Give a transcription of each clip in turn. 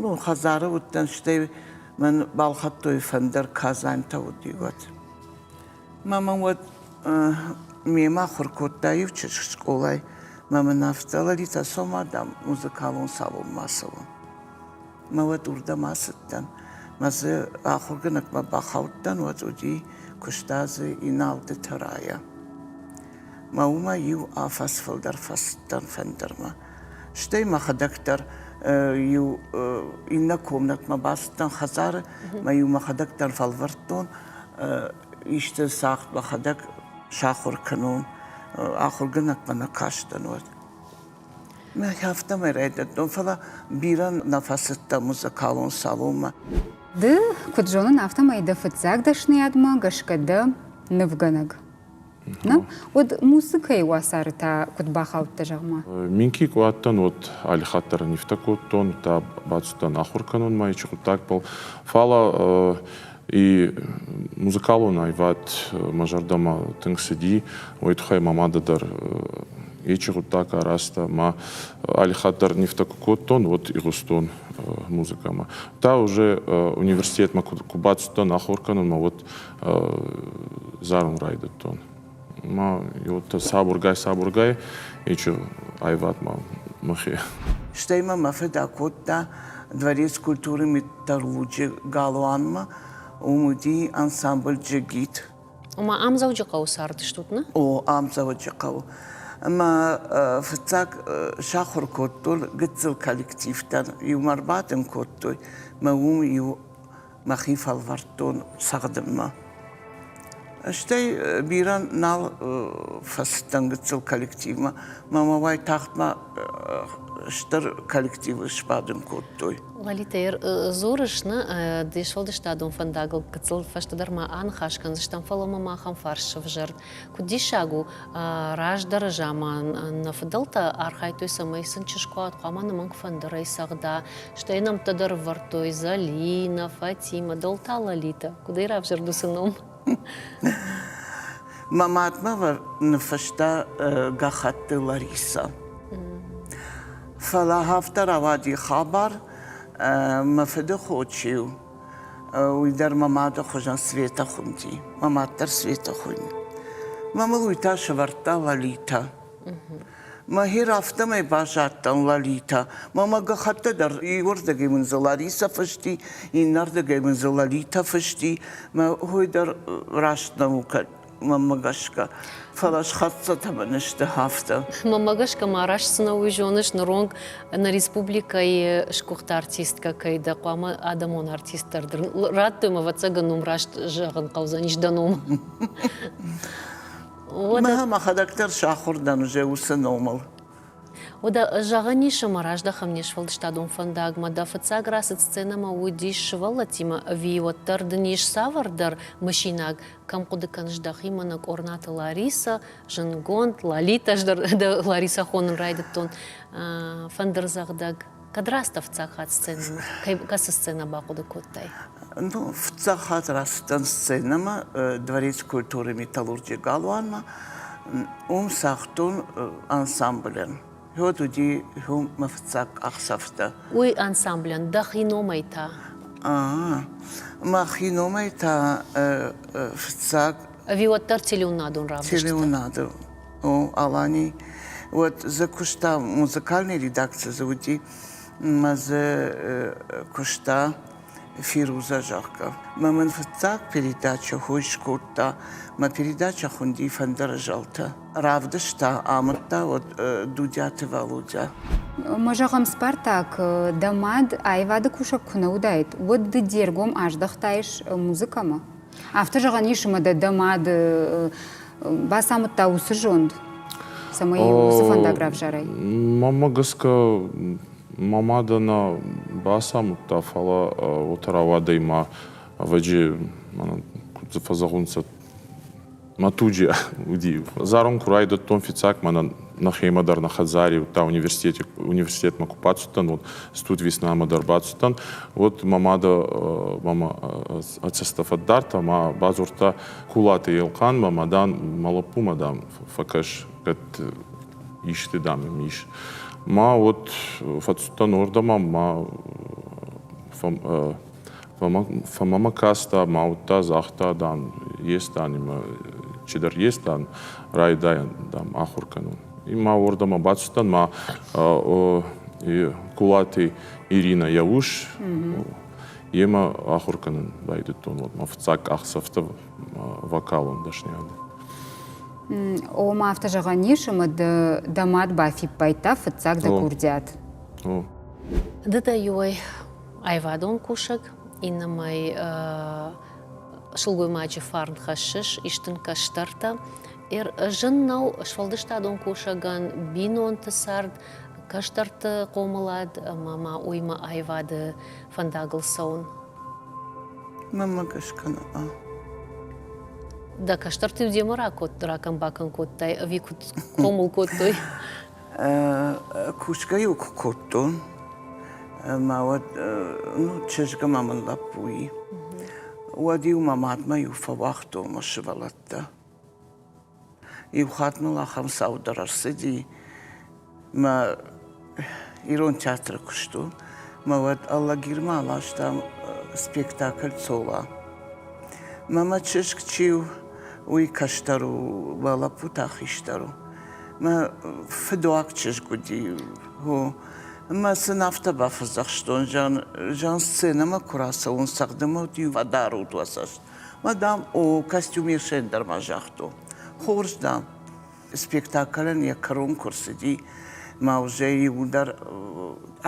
Мон хӕдзары уыдтӕн, стӕй мӕн балхӕдтой фӕндыр, казантӕ уыди уӕд. Мӕ мӕн уӕд мемӕ ахуыр кодта иу чызг скъолайы, мӕ мын ӕвдзӕлыди, цӕсома, дам, музыкалон салонмӕ ацӕуын. Мӕ уӕд уырдӕм ацыдтӕн. Мӕ дзы ахуыргӕнӕгмӕ бахаудтӕн, уӕд уыди куыста дзы Иналды Тӕрайӕ. Мӕ уымӕ иу афӕдз фылдӕр фӕцыдтӕн фӕндырмӕ. Стӕй мӕхӕдӕг дӕр иу иннӕ комнатмӕ бацыдтӕн хӕдзары, мӕ-иу мӕхӕдӕг дӕр фӕлвӕрдтон, исты цагъд мӕхӕдӕг сахуыр кӕнон, ахуыргӕнӕгмӕ нӕ кастӕн уӕд. Мӕ афтӕмӕй райдыдтон, фӕлӕ бирӕ нӕ фӕцыдтӕн музыкалон салонмӕ. Ды куыд зонын, афтӕмӕй дӕ фыццаг дӕсныйадмӕ гӕсгӕ дӕ нывгӕнӕг Нӕ? Уӕд музыкӕйы уацары та куыд бахаудтӕ, зӕгъ-ма? Минки къуӕттӕн уӕд алихатт дӕр нивтӕ кодтон, та бацыдтӕн ахуыр кӕнынмӕ ичи хъуыддагбӕл. Фӕлӕ и музыкалон аивад мӕ зӕрдӕмӕ тынг цыди, уый тыххӕй мӕ мады дӕр ичи хъуыддаг арӕзта, ма алихатт дӕр нивтӕ куы кодтон, уӕд игъуыстон музыкӕмӕ. Та уже университетмӕ куы бацыдтӕн ахуыр кӕнынмӕ, уӕд зарын райдыдтон. Ма уӕддӕр сабургай-сабургай ичи аивад ма мӕхе. Стӕй мӕ мӕ фыд акодта дворец культуры металлурджы галуанмӕ, уым уыди ансамбль Джигит. Ма ам Дзӕуджыхъӕуы цардыстут, нӕ? О, ам Дзӕуӕджыхъӕуы мӕ фыццаг сахуыр кодтон гыццыл коллективтӕн, иумӕ ӕрбадын кодтой мӕ уым иу мӕхи фӕлвӕрдтон цӕгъдынмӕ. Стӕй бирӕ нал фӕцыдтӕн гыццыл коллективмӕ. Мамӕ уайтагъдмӕ стыр коллективы сбадын кодтой. Лалитӕ, дзурыс, нӕ де сфӕлдыстадон фӕндагыл гыццыл фӕстӕдӕр ма аныхас кӕндзыстӕм, фӕлӕ мӕм ахӕм фарс сӕвзӕрд, Куыд диссаг у, раздӕры заман нӕ фыдӕлтӕ архайдтой, цӕмӕй сын чызгуат хъуамӕ нымӕнг фӕндырӕй цӕгъда, стӕй нӕмттӕ дӕр ӕвӕрдтой Зӕлинӕ, Фатимӕ, дӕлта Лолитӕ. Куыд ӕй равзӕрд уыцы ном? Мӕ мадмӕ ныффыста Гӕххӕтты Ларисӕ. Фӕлӕ афтӕ рауади хабар, мӕ фыды хо чи у, Уый дӕр мӕ мады хуызӕн Светӕ хуынди. Мӕ мад дӕр Светӕ хуыйны. Мӕ мыг уый та сӕвӕрдта Лалитӕ. Мӕхи афтӕмӕй базадтӕн Лалитӕ. Мӕ мӕ гӕххӕттӕ дӕр иуырдыгӕй мын дзы Ларисӕ фысти, иннӕрдыгӕй мын дзы Лалитӕ фысти. Мӕ хой дӕр раст нӕу, кӕд уымӕ гӕсгӕ. Фӕлӕ схӕццӕ бын сты афтӕ. Мӕмӕ гӕсгӕ ма раст цы нӕ уый зоныс, ныронг нӕ республикӕйы сгуыхт артисткӕ кӕй дӕ, хъуамӕ адӕмон артист дӕр дыр. Радтой мӕ, ӕвӕццӕгӕн, ном раст зӕгъын хъӕудзӕнис дӕ ном. Мӕ мӕхӕдӕг дӕр сахуыр дӕн уже уыцы номыл. Уӕдӕ зӕгъӕн ис, ӕмӕ раздӕхӕм не сфӕлдыстадон фӕндагмӕ. Дӕ фыццаг рацыд сценӕмӕ уыдис сывӕллӕттимӕ ӕви уӕддӕр дын ис цавӕрдӕр мысинаг? кӕм хъуыды кӕныс дӕхимӕ, нӕ Къорнаты Ларисӕ, зындгонд, Лалитӕ, ӕз дӕр Ларисӕ хонын райдыдтон, фӕндырдзӕгъдӕг. Кӕд раст дӕ фыццаг хатт сценӕмӕ, кӕцы сценӕ бахъуыды кодтай? Ну, фыццаг хатт рацыдтӕн сценӕмӕ Дворец культуры-металлурджийы галуанмӕ. Уым цагътон ансамблӕн. Уӕд уыди иумӕ фыццаг къахдзӕфтӕ. Уый ансамблӕн дӕхи номӕй та? А-а, мӕхи номӕй та фыццаг. Ӕви уӕддӕр телеуынадон равдыст? Телеуынады, о, Алани. Уӕд дзы куыста, музыкальный редакци дзы уыди, мӕ дзы куыста. фируза, зӕгъгӕ. Ма мын фыццаг передачӕ хой скодта, мӕ передачӕ хуынди Фӕндыры зӕлтӕ. Равдыста, амыдта уӕд Дудиаты Валодя. Ма зӕгъӕм, Спартак дӕ мад аивады кусӕг куы нӕ уыдаид, уӕд ды де ргом аздӕхтаис музыкӕмӕ? Афтӕ зӕгъӕн ис ӕмӕ дӕ дӕ мад бацамыдта уыцы зонд, цӕмӕй уыцы фӕндаг равзарай? Мамӕ гӕсгӕ Мӕ мадӕ нӕ бацамыдта, фӕлӕ уотӕ рауадӕй ма, ӕвӕджи, мӕнӕ куд дзы фӕзӕгъунцӕ, мӕ туджи уди. Зӕронд ку райдӕдтон фиццаг, мӕнӕ нӕхемӕ дӕр, нӕ хӕдзари, удта университети, университетмӕ ку бацудтӕн, уӕд студвеснамӕ дӕр бацудтӕн, уӕд мӕ мадӕ мӕмӕ ӕ цӕстӕ фӕддардта ма бадзурдта Кулаты Елхъанмӕ, ма, дан, мӕ лӕппумӕ, дам, фӕкӕс, кӕд исты, дам, йӕм ис. Мӕ уӕд фӕцудтӕн уырдӕм ӕмӕ фӕмӕ мӕ каста, мӕ уыдта, загъта, дан, Естан имӕ чидӕр Естан райдайӕн, дам, ахуыр кӕнон. И ма уырдӕм абацыдтӕн, ма Кулати Ирина йӕ ус, йемӕ ахуыр кӕнын байдыдтон. Уӕд мӕ фыццаг къахдзӕфтӕ вокалон дӕсниады. Ома афтӕ зӕгъӕн ис, ӕмӕ дӕ мад бафиппайдта фыццаг дӕ курдиат. Ды дӕ иуӕй аивадон кусӕг, иннӕмӕй сылгоймаджы фарн хӕссыс, ис дын кӕстӕртӕ. Зын нӕу сфӕлдыстадон кусӕгӕн бинонты цард, кӕстӕрты хъомылад ӕмӕ ма уыимӕ аивады фӕндагыл цӕуын. Маммӕ скӕна. Да кӕстӕрты демӕ ракодт, ракӕн-бакӕн кодтай, ӕви куыд хъомыл кодтой? Кусгӕ-иу куы кодтон, мӕ уӕд ну, чызгмӕ мын лӕппуи. Уӕд-иу мӕ мадмӕ иу фӕуагътон мӕ сывӕллӕттӕ. Иу хатт мыл ахӕм цау дӕр ӕрцыди, мӕ ирон театры куыст у, мӕ уӕд Алагирмӕ аластам спектакль «Цола». Мӕ мӕ чызг чи у, уый кӕстӕр у, лӕппутӕ хистӕр у. Мӕ фыдуаг чызг уыди хо. Мӕ сын афтӕ бафӕдзӕхстон, зӕгъын, зӕгъын, сценӕмӕ куы рацӕуон, цӕгъдын мӕ уыд иувӕдар удуӕдзӕст. Мадам о костюме Шендермӕ загътон. Хорз, дам. Спектаклӕн йӕ кӕрон куы рцыди, мӕ узӕй иуылдӕр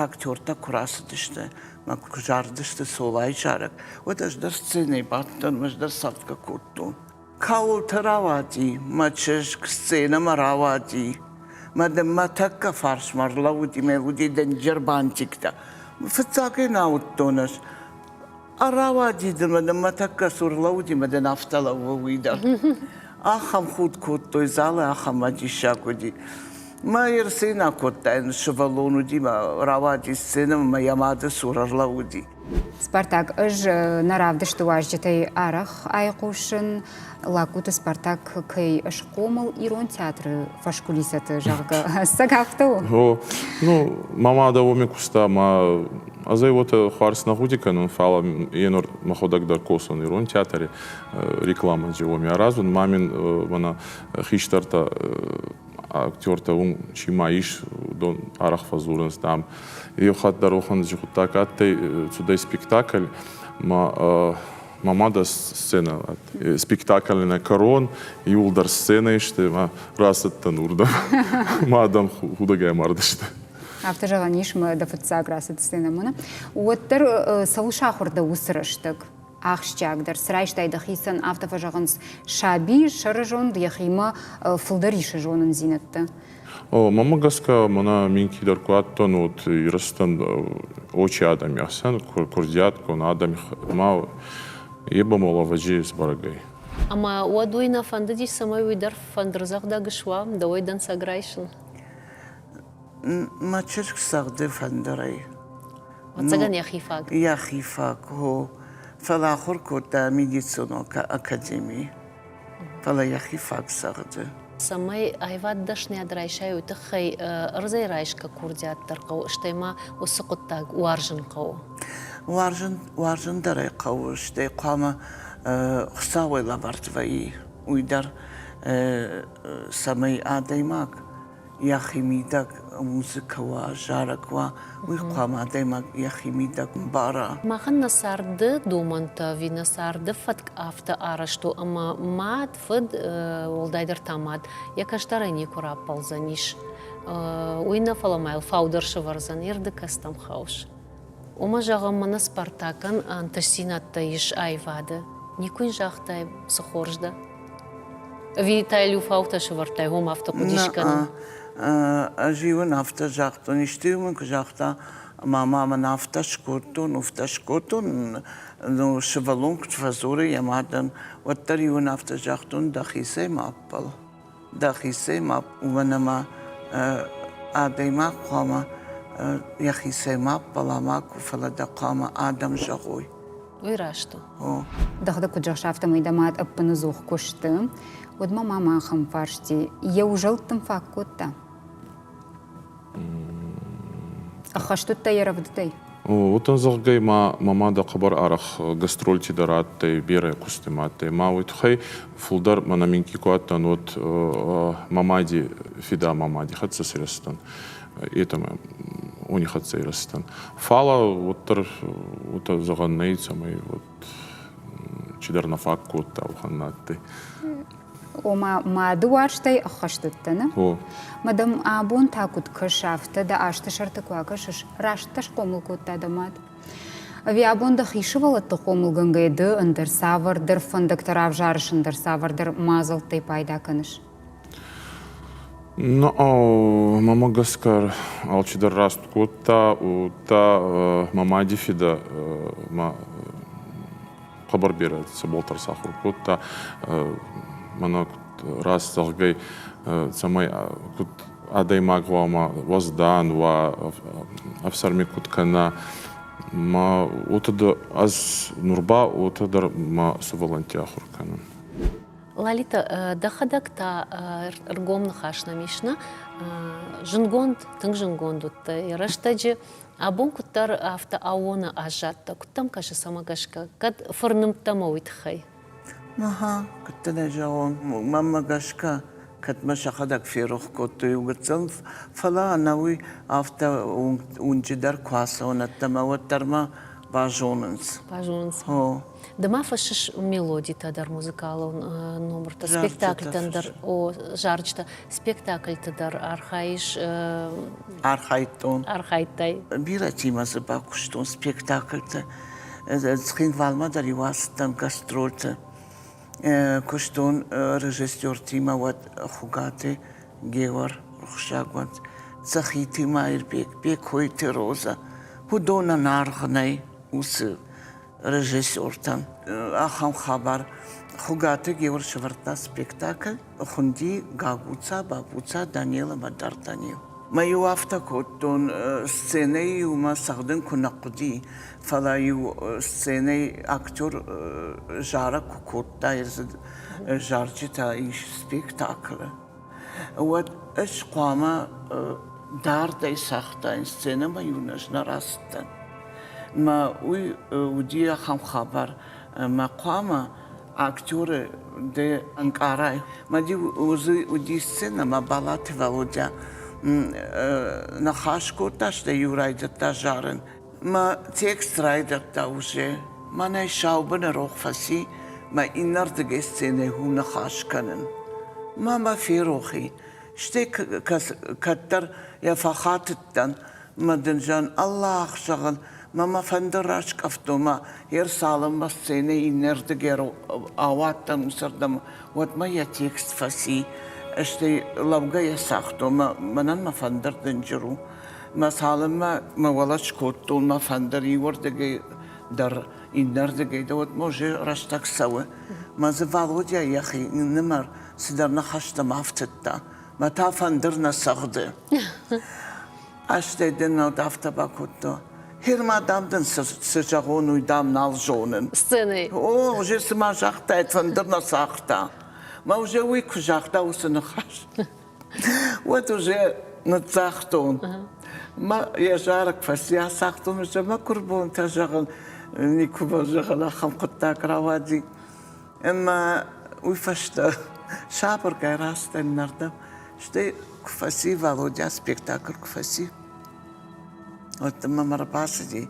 актертӕ куы рацыдысты, мӕ куы зарыдысты Солайы зарӕг, уӕд ӕз дӕр сценӕйы бадтон, ӕз дӕр цӕфтӕ кодтон. Кӕуылты рауади мӕ чызг, сценӕмӕ рауади. Мӕ дын мӕ тӕккӕ фарсмӕ ӕрлӕууыди, мӕ уыди дӕнджер бантиктӕ. Фыццаг ӕй нӕ ауыдтон ӕз. Ӕрауадид ӕмӕ нын мӕ тӕккӕ цур лӕууыди ӕмӕ дын афтӕ лӕууы уый дӕр. Ахӕм худ кодтой залы, ахӕм диссаг уыди. Мӕ йе рценӕ кодтаин сывӕллон уыди, мӕ рауади сценӕмӕ мӕ йӕ мады цур ӕрлӕууыди. Спартак, ӕз нӕ равдысты уазджытӕй арӕх айхъусын, лӕггуыты Спартак кӕй схъомыл ирон театры фӕскулисӕты, зӕгъгӕ. Ӕцӕг афтӕ у? О, ну, ма ма дӕ уоми куста, ма ӕз ӕй уотӕ хуарз нӕ гъуди кӕнун, фал е нур мӕхуӕдӕг дӕр косун ирон театри рекламади уоми аразун. Ма мин мӕнӕ хистӕртӕ актертӕ ун чи ма ис, уыдон арӕх фӕдзурынц, дам, еу хатт дӕр охӕнди гъуддаг адтӕй цудӕй спектакль, ма Мамада сцена, спектакль на корон, иуылдӕр сценӕ сты ӕмӕ рацыдтӕн уырдӕм. Мӕ адӕм худӕгӕй мардысты. Афтӕ зӕгъӕн ис, мӕ дӕ фыццаг рацыд сценӕмӕ. Уӕддӕр цӕуыл сахуыр дӕ уыцы рӕстӕг? Ахсджиагдӕр цы райстай дӕхицӕн, афтӕ фӕзӕгъынц, саби сӕрызонд йӕхимӕ фылдӕр исы зонындзинӕдты. Мӕмӕ гӕсгӕ мӕнӕ мин кидӕр куы адтӕн уот Ирыстон очи адӕми асӕн, курдиат кон адӕми ма е ба мол ӕвӕджи сбӕрӕг ӕй. Ӕма уӕд уый нӕ фӕндыди, цӕмӕй уый дӕр фӕндырдзӕгъдӕг суа, дӕуӕй дӕнцӕг райсын? Мӕ чызг цӕгъды фӕндырӕй. Ӕцӕгӕн йӕхи фаг? Йӕхи фаг, хо. Фӕлӕ ахуыр кодта медицинон академи. фӕлӕ йӕхи фаг цӕгъды. Цӕмӕй аивад дӕсниад райсай, уый тыххӕй ӕрдзӕй райсгӕ курдиат дӕр хъӕуы, стӕй ма уыцы хъуыддаг уарзын хъӕуы. Уарзын, уарзын дӕр ӕй хъӕуы, стӕй хъуамӕ Хуыцауӕй лӕвӕрд вӕййы уый дӕр, цӕмӕй адӕймаг йӕхимидӕг музыкӕ уа, зарӕг уа, уый хъуамӕ адӕймаг йӕхимидӕг мбара. Махӕн нӕ царды домӕнтӕ ӕви нӕ царды фӕтк афтӕ арӕзт у, ӕмӕ мад, фыд, уӕлдайдӕр та мад, йӕ кӕстӕрӕй никуы раппӕлдзӕнис. Уый нӕ, фӕлӕ ма йыл фаудӕр сывӕрдзӕн, ирды кӕстӕм хӕус. Уымӕ, зӕгъӕм, мӕнӕ Спартакӕн ӕнтыстдзинӕдтӕ ис аивады. Никуы йын загътай, цы хорз дӕ? Ӕви та йыл иу фаутӕ сывӕрдтай, хом афтӕ хъуыди скӕнын? Ӕз-иу ын афтӕ загътон, исты-иу мын куы загъта, мама, мӕн афтӕ скодтон, уфтӕ скодтон, ну, сывӕллон куыд фӕдзуры йӕ мадӕн, уӕддӕр-иу ын афтӕ загътон, дӕхицӕй ма ӕппӕл. дӕхицӕй ма уӕн ӕма адӕймаг хъуамӕ йӕхицӕй ма ппӕла макуы, фӕлӕ дӕ хъуамӕ адӕм зӕгъой. Уый раст у. О. Дӕгъды куыд зӕгъыс, афтӕмӕй дӕ мад ӕппыныдзух куы сты, уӕд мӕ мама ахӕм фарсти йӕ узӕлттым фаг кодта. Ӕххӕстыдтӕ йӕ рӕвдыдӕй? Уотӕн, зӕгъгӕ, ма мӕмӕ дӕ хъӕбӕр арӕх гастрольти дӕр адтӕй, берӕ кусти ма адтӕй. Ма уой туххӕй фулдӕр мӕнӕ минкъий ку адтӕн, уӕд мӕ мади фидӕ ма мади хӕццӕ сирӕстӕн. Етӕмӕ уони хӕццӕ ирӕстӕн. Фал уӕддӕр уотӕ зӕгъӕн нӕй, цӕмӕй чидӕр нӕ фаг кодта уӕхӕн надтӕй. Ома мады уарзтӕй ӕххӕст уыдтӕ, О. Мадам, абон та куыд кӕс, афтӕ дӕ азты сӕрты куы акӕсыс, раст дӕ схъомыл кодта дӕ мад? Ӕви абон дӕхи сывӕллӕтты хъомылгӕнгӕйӕ ды ӕндӕр цавӕрдӕр фӕндӕгтӕ равзарыс, ӕндӕр цавӕрдӕр мадзӕлттӕй пайда кӕныс? Ну, мӕмӕ гӕсгӕ алчидӕр раст кодта, уыдта мӕ мади фидӕ мӕ хъӕбӕр бирӕ цӕбӕлтӕр сахуыр кодта. Мӕнӕ куыд раст зӕгъгӕй, цӕмӕй куыд адӕймаг хъуамӕ уӕздан уа, ӕфсӕрми куыд кӕна. Мӕ отыды, ӕз ныр ба отӕ дӕр мӕ сывӕллӕнтти ахуыр кӕнын. Лалита, дӕхӕдӕг та ӕргом ныхас нӕм ис нӕ? Зынгонд, тынг зынгонд уыдтай. Рӕстӕджы абон куыддӕр афтӕ аууоны аззадтӕ. Куыд дӕм кӕсы цӕмӕ гӕсгӕ? Кӕд фырнымдтӕ мӕ уый тыххӕй? Куыд дын ӕй зӕгъон, мӕнмӕ гӕсгӕ, кӕд мӕ сӕхӕдӕг ферох кодтой иу гыццыл, фӕлӕ ӕнӕуый афтӕ уынджы дӕр куы ацӕуон ӕддӕмӕ, уӕд дӕр мӕ базонынц. Базонынц. О. Ды ма фӕссыс мелодитӕ дӕр, музыкалон номыртӕ, спектакльтӕн дӕр, о, зарджытӕ, спектакльты дӕр архайыс? Архайдтон. Архайдтай? Бирӕтимӕ дзы бакуыстон спектакльты. Цхинвалмӕ дӕр иу ацыдтӕн гастрольты. Куыстон режиссертимӕ уӕд Хуыгаты Геор рухсагуат, Цӕхити Маирбег, Бекойты Роза. Уыдонӕн аргъ нӕй уыцы режиссертӕн ахӕм хабар. Хуыгаты Геор сӕвӕрдта спектакль, хуынди Гагуца, Бабуца, Данелова, Д'Артаньев. Мӕ-иу афтӕ кодтон, сценӕйы-иу мӕ цӕгъдын куы нӕ хъуыди, фӕлӕ-иу сценӕйы актер зарӕг куы кодта, ӕрдзы зарджытӕ ис спектаклы. уӕд ӕз хъуамӕ дардӕй цагътаин сценӕмӕ-иу ӕз нӕ рацыдтӕн. Мӕ уый уыди ахӕм хабар, ӕмӕ хъуамӕ актеры дӕ ӕнкъарай. Мӕ-иу уызы уыди сценӕ, мӕ Балаты Валодя ныхас кодта, стӕй-иу райдыдта зарын. Мӕ текст райдыдта уже, мӕнӕй саубыны рох фӕци мӕ иннӕрдыгӕй сценӕйы ху ныхас кӕнын. Ма мӕ ферохи, стӕй кӕддӕр йӕ фӕхатыдтӕн мӕ дын зӕн Аллах зӕгъын, мӕ мӕ фӕндыр раскъӕфтон мӕ йе рцалынмӕ сценӕ иннӕрдыгӕй ауадтӕн уыцырдӕм, уӕдмӕ йӕ текст фӕци, стӕй лӕугӕ йӕ цагътон, мӕнӕн мӕ фӕндыр дынджыр у. Мӕ цалынмӕ мӕ уӕлӕ скодтон мӕ фӕндыр иуырдыгӕй дӕр, иннӕрдыгӕй дӕр, уӕдмӕ уже рӕстӕг цӕуы. Мӕ дзы Валодя йӕхи ныннымӕр цыдӕр ныхӕстӕм афтыдта. Мӕ та фӕндыр нӕ цӕгъды. Астӕй дын нал афтӕ бакодта. Херма, дам дын цы зӕгъон, уый дам нал зонын. Сценӕйы. О, уже цыма загътаид, фӕндыр нӕ цагъта. Мӕ уже уый куы загъта, уыцы ныхас. Вот уже ныццагътон. Мӕ йӕ зарӕг фӕсйацагътон, ӕмӕ мӕ курбонтӕ зӕгъын, никуыма зӕгъын ахӕм хъуыддаг рауади. Ӕмӕ уый фӕстӕ сабыргай растӕн нӕрдӕм, стӕй куы фӕци Володя спектакль куы фӕци. Вот мӕм ӕрбацыди,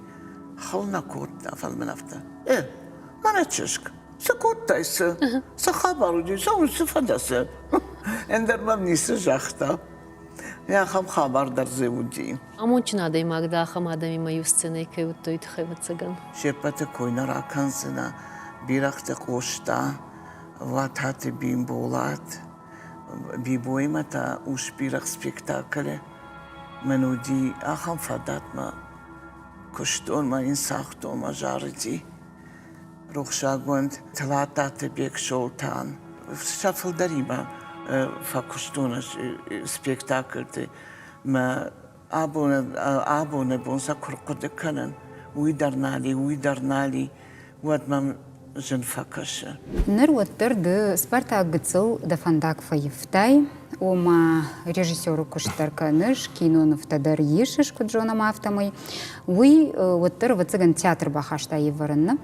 хыл нӕ кодта, фӕлмӕн афтӕ. Э, мӕнӕ чызг. Цы кодтай, цы? Цы хабар уыди? Цӕуыл цы фӕдӕсы? Ӕндӕр мӕм ницы загъта. Ахӕм хабар дӕр дзы уыди. Амондджын адӕймаг дӕ ахӕм адӕмимӕ иу сценӕйы кӕй уыдтой тыххӕй, ӕвӕццӕгӕн. Се ппӕты кой нӕ ракӕндзынӕ, Бирӕгъты Къоста, Влататы Бимболат, Бибоимӕ та Ус-Бирӕгъ спектаклы. Мӕн уыди ахӕм фадатмӕ, куыстон мӕ йын цагътон мӕ зарыди. рухсагонд Тлаттаты Бексолтан сӕ фылдӕримӕ фӕкуыстон спектакльты. Мӕ абоны, абоны бон сӕ куы рхъуыды кӕнын, уый дӕр нал и, уый дӕр нал и, уӕд мӕм зын фӕкӕсы. Ныр уӕддӕр ды Спартак гыццыл дӕ фӕндаг фӕивтай, ома режиссеры куыст дӕр кӕныс, кинонывтӕ дӕр исыс, куыд зонӕм, афтӕмӕй. Уый уӕддӕр, ӕвӕццӕгӕн, театр бахаста ӕвӕрынны.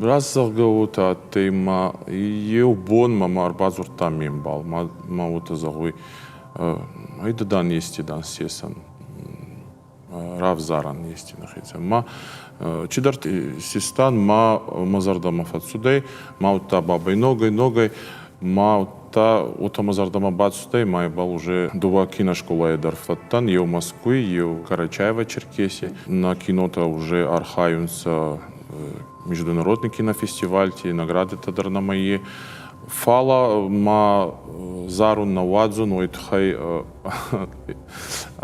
Раст зӕгъгӕ уотӕ адтӕй ма еу бонмӕ ма ӕрбадзурдта ме мбал, ма мӕ уотӕ зӕгъуй, ӕйда дан, ести дан сесӕн. равзарӕн ести нӕхецӕн. Ма чидӕрти систан, ма мӕ зӕрдӕмӕ фӕццудӕй, ма удта бабӕй ногӕй, ногӕй ма удта уотӕ мӕ зӕрдӕмӕ бацудӕй, ма ибӕл уже дууӕ киноскъолайӕ дӕр фӕдтӕн, еу Мӕскуй, еу Карачаево-Черкеси. На кинотӕ уже архайунцӕ международный кинофестивальти, наградитӕ дӕр нӕмӕ и. Фал ма зарун, нӕ уадзун, уой туххӕй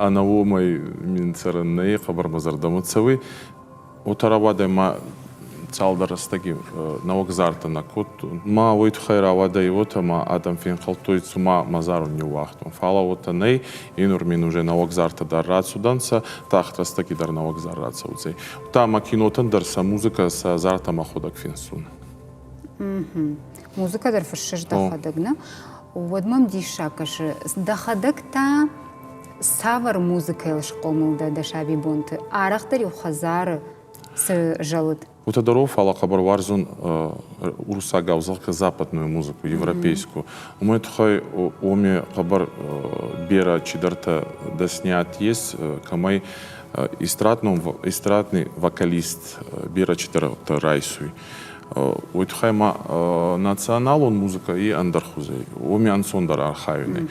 Ӕнӕ уомӕй мин цӕрӕн нӕй, хъӕбӕр мӕ зӕрдӕмӕ цӕуй. Уотӕ рауадӕй ма цалдӕр рӕстӕги нӕуӕгзартӕ нӕ кодтон. Ма уой туххӕй рауадӕй уотӕ ма адӕм фенхӕлдтой, цума мӕ зарын ниууагътон. Фал ӕ уотӕ нӕй, енур мин уже нӕуӕгзартӕ дӕр рацудӕнцӕ, тагъд рӕстӕги дӕр нӕуӕгзар рацӕудзӕй. Удта ма кинотӕн дӕр сӕ музыкӕ, сӕ зартӕ мӕхуӕдӕг финсун. Музыкӕ дӕр фыссы дӕхӕдӕг, нӕ? Уӕд мӕм диссаг кӕсы. Дӕхӕдӕг та цавӕр музыкӕйыл схъомыл дӕ дӕ сабибонты? Арӕхдӕр-иу хӕдзары цы зӕлыд? Утодоров, фӕлӕ хъӕбӕр уарзон уруссагау, зӕгъгӕ, западную музыку, европейскую. Уымӕй тыххӕй оме хъӕбӕр бирӕ чидӕртӕ дӕснят есть, кӕмӕй эстрадный вокалист бирӕ чидӕртӕ райсуй. уой туххӕй ма националон музыкӕ и ӕндӕр хузӕй, уоми ӕнцондӕр архайунӕй.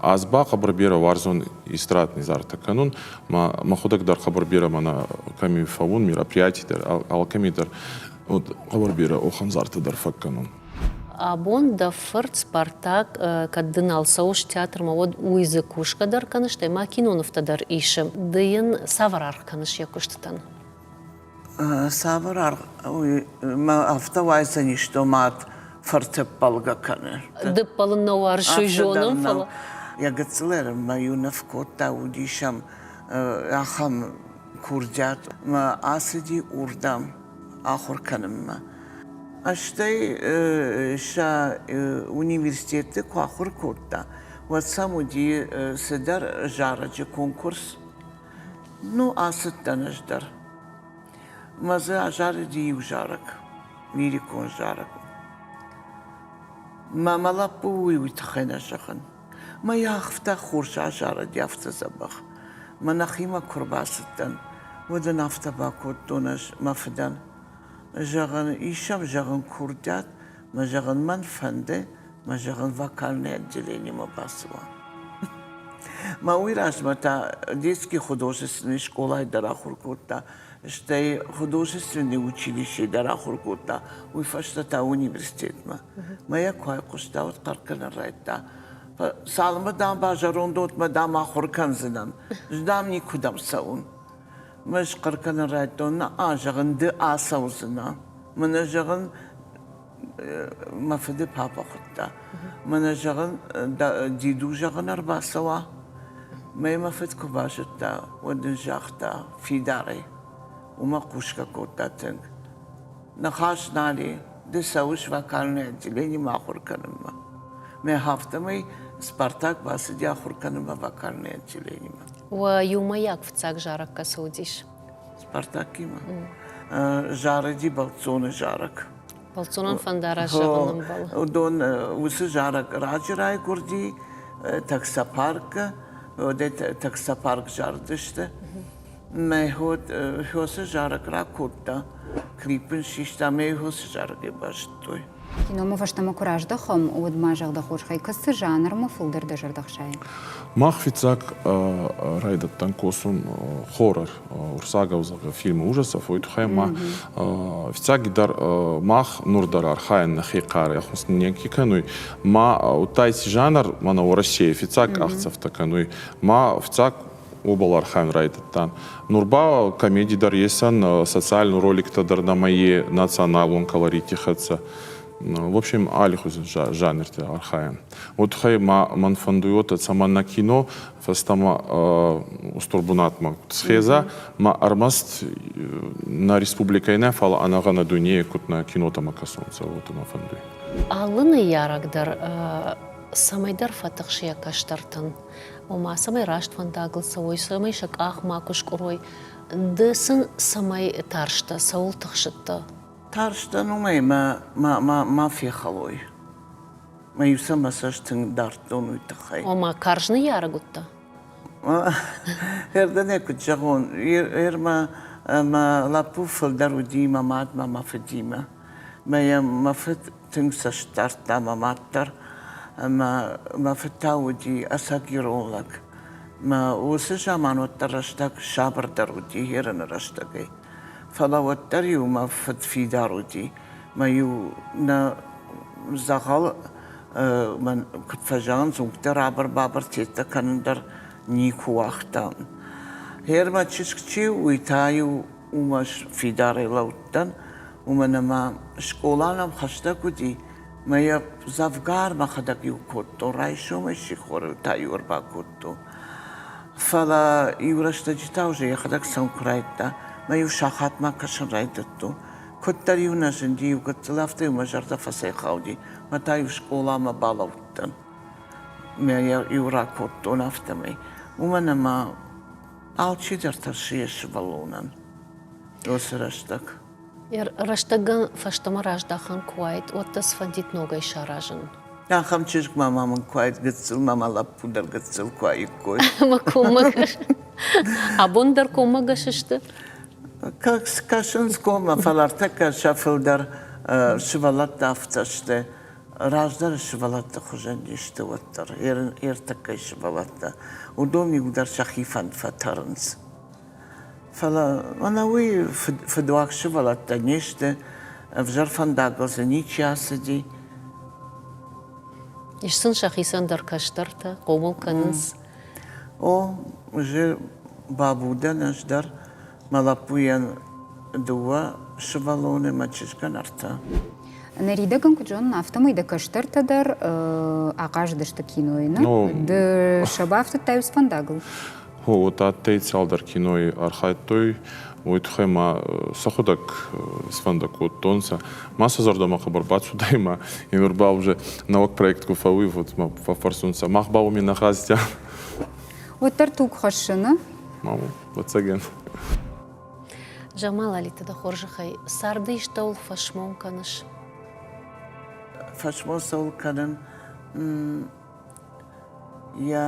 Аз ба хъӕбӕр берӕ уарзон эстрадный зартӕ кӕнун, ма мӕхудӕг дӕр хъӕбӕр берӕ мӕнӕ кӕми фӕуун мероприятий дӕр, алкӕми дӕр хъӕбӕр берӕ охӕнзартӕ дӕр фӕккӕнун. Абон дӕ фырт Спартак, кӕд ды нал цӕуыс театрмӕ, уӕд уый дзы кусгӕ дӕр кӕныс, стӕй ма кинонывтӕ дӕр исы. Ды йын цавӕр аргъ кӕныс йӕ куыстытӕн? Цавӕр аргъ мӕ афтӕ уайдзӕнис томат фыртыппӕлгӕ кӕнын? Дыппӕлын нӕ уарзой зонын, фӕлӕ. Йӕ гыццылӕй мӕ иу ныв кодта, уыдис ӕм ахӕм курдиат, мӕ ацыди уырдӕм ахуыр кӕнынмӕ. Стӕй сӕ университеты куы ахуыр кодта, уӕд сӕм уыди цыдӕр зарӕджы конкурс. Ну, ацыдтӕн ӕз дӕр. Мӕ дзы азарыди иу зарӕг, лирикон зарӕг. Мӕ мӕ лӕппу уый уый тыххӕй нӕ зӕгъын. Мӕ йӕ ахфтӕ хорз азарыди, афтӕ дзӕбӕх. Мӕ нӕхимӕ куы рбацыдтӕн, уӕд ын афтӕ бакодтон ӕз мӕ фыдӕн. Зӕгъын, ис сӕм зӕгъын курдиат, Мӕ зӕгъын мӕн фӕнды, мӕ зӕгъын вокальный отделенимӕ бацуа. Мӕ уый размӕ та детский художественный скъолайы дӕр ахуыр кодта, стӕй художественный училищейы дӕр ахуыр кодта, уый фӕстӕ та университетмӕ. Мӕ йӕ куы айхъуыста, уӕд хъӕркӕнын райдыдта. Цалынмӕ дам базӕронд, уӕдмӕ дам ахуыр кӕндзынӕн, ӕз дам никуыдӕм цӕуын. Ме схъӕр кӕнын райдтон, наа, зӕгъын, ды ацӕудзынӕ. Мӕнӕ зӕгъын, мӕ фыды папа хуыдта. Мӕнӕ зӕгъын, диду зӕгъын ӕрбацӕуа. Мӕй мӕ фыд куы базыдта, уӕд ын загъта, фидарӕй. Уымӕ хъусгӕ кодта тынг. Ныхас нал и, ды цӕуыс вокальный отделенимӕ ахуыр кӕнынмӕ. Мӕ афтӕмӕй Спартак бацыди ахуыр кӕнынмӕ вокальный отделенимӕ. Уӕ иумӕйаг фыццаг зарӕг кӕцы уыдис? Спартакимӕ зарыди бӕлццоны зарӕг. Бӕлццонон фӕндарассӕгыл ӕмбӕлы. Уыдон уыцы зарӕг раджы райгуырди Таксопарк-ы, уӕдӕй Таксопарк зарыдысты. Мӕ хо хьосы зарӕг ракодта, клип ын систа, мӕ хьосы зарӕг ӕрбазыдтой. Киномӕ фӕстӕмӕ куы раздӕхӕм, уӕд мӕ зӕрдӕ хорз хай кӕсы жанрмӕ, фылдӕр дӕ зӕрдӕ хсайы? Мах фиццаг райдӕдтан косун хоррор Урсаговдзагы фильмы ужасов, уой туххӕй ма фиццагидӕр мах нур дӕр архайӕн нӕхе хъарӕ хъуснинеги кӕнуй, ма удта еци жанр мӕнӕ Уӕрӕсейӕй фиццаг къахдзӕфтӕ кӕнуй, ма фиццаг обал архайын райдыдта. Нур ба комеди дӕр есӕн, социальный роликтӕ дӕр нӕмӕ е националон колорити хӕццӕ. В общем, алихузи жанрти архайӕн. Вот хай ман фӕндуйот, цӕмӕн на кино фӕстӕмӕ устур бунатмӕ схеза, ма ӕрмӕст на республикӕй нӕ, фала ӕнӕгъӕнӕ дуйне куд на кинотӕмӕ кӕсонцӕ, вот мӕ фӕндуй. Алы ныййарӕг дӕр цӕмӕйдӕр фӕтыхсийӕ кӕстӕртӕн. ома цӕмӕй раст фӕндагыл цӕуой, цӕмӕй сӕ къах макуы скъуырой. Ды сын цӕмӕй тарстӕ, цӕуыл тыхсыдтӕ? Тарстӕн уымӕй мӕ ма ма ма фехӕлой. Мӕ-иу сӕ мӕ цӕст тынг дардтон уый тыххӕй. Ома карз ныййарӕг уыдтӕ? Кӕрдӕнӕй куыд зӕгъон, Ирмӕ мӕ лӕппу фылдӕр уыди мӕ мадмӕ, мӕ фыдимӕ. Мӕ йӕ мӕ фыд Тынг цӕст дардта мӕ мад дӕр ӕмӕ мӕ фыд та уыди ӕцӕг-ирон лӕг. Мӕ уыцы заман уӕддӕр рӕстӕг сабырдӕр уыди Ерыны рӕстӕгӕй. Фӕлӕ уӕддӕр-иу мӕ фыд фидар уыди. Мӕ-иу нӕ дзӕгъӕл куыд фӕзӕгъын, дзунгтӕ рабыр-бабыр цӕттӕ кӕнын дӕр никуы уагътам. Гъер мӕ чызг чи у, уый та-иу уымӕ фидарӕй лӕудтӕн, уымӕн ӕмӕ скъола нӕм хӕстӕг уыди, мӕ йӕ дзӕвгар мӕхӕдӕг-иу кодтон, райсомӕй сихоры та-иу ӕрбакодтон. Фӕлӕ иу рӕстӕджы та уже йӕхӕдӕг сӕм куы райдта, мӕ-иу сахатмӕ кӕсын райдыдтон. Куыддӕр-иу нӕ зынди иу гыццыл, афтӕ-иу мӕ зӕрдӕ фӕцӕйхауди, мӕ та-иу скъоламӕ балӕудтӕн. Мӕ йӕ-иу ракодтон афтӕмӕй. Уымӕн ӕмӕ Алчидӕр тӕрсы йӕ сывӕллонӕн уыцы рӕстӕг. Йӕ рӕстӕгӕн фӕстӕмӕ раздахӕн куы уаид, уӕд дӕ сфӕндид ногӕй саразын? Ахӕм чызгмӕ-ма мын куы уаид гыццыл, ма мӕ лӕппу дӕр гыццыл куы уаиккой. Ӕмӕ коммӕгӕс? Абон дӕр коммӕгӕс сты? Кӕсынц коммӕ, фӕлӕ ӕртӕккӕ сӕ фылдӕр сывӕллӕттӕ афтӕ сты. раздӕры сывӕллӕтты хуызӕн не сты уӕддӕр ӕртыккӕй сывӕллӕттӕ, уыдон иугдӕр сӕхи фӕнд фӕтӕрынц. Фӕлӕ мӕнӕ уый фыдуаг сывӕллӕттӕ не сты, ӕвзӕр фӕндагыл дзы ничи ацыди. Ис сын сӕхицӕн дӕр кӕстӕртӕ, хъомыл кӕнынц? О, уже бабудӕн ӕз дӕр Мӕ лӕппуйӕн дыууӕ сывӕллоны, мӕ чызгӕн ӕртӕ. Ныридӕг ын куыд зонын, афтӕмӕй дӕ кӕстӕртӕ дӕр ахъазыдысты кинойы, нӕ? Ну, ды сӕ бафтыдтай уыцы фӕндагыл? О, уӕд адтӕй цалдӕр кинойы архайдтой, уой туххӕй ма сӕхудӕг сфӕндӕ кодтонцӕ. Ма сӕ зӕрдӕмӕ хъӕбӕр бацудӕй ма е нур ба уже нӕуӕг проект ку фӕууйвуд, ма фӕффӕрсунцӕ, мах ба уоми нӕ хъазтӕ. Уӕддӕр туг хӕссыны? Ма, Ӕвӕццӕгӕн. Джамал Али, ты дӕ хорзӕхӕй, царды истӕуыл фӕсмон кӕныс? Фӕсмон цӕуыл кӕнын? Йӕ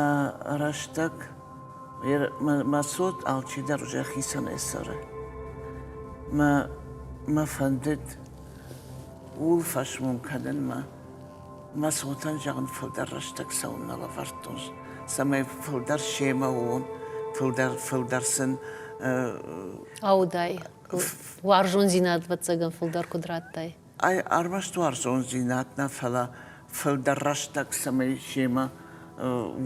рӕстӕг, мӕ цот алчидӕр уже хицӕнӕй цӕры. Мӕ, мӕ фӕндыд ууыл фӕсмон кӕнынмӕ Мӕ цотӕн зӕгъын, фылдӕр рӕстӕг цӕуын нӕ лӕвӕрдтон, цӕмӕй фылдӕр семӕ уон, фылдӕр, фылдӕр сын. Аудай. Уарзондзинад ӕвӕццӕгӕн фылдӕр куыд радтай? Ай ӕрмӕст уарзондзинад нӕ, фӕлӕ фылдӕр рӕстӕг цӕмӕй семӕ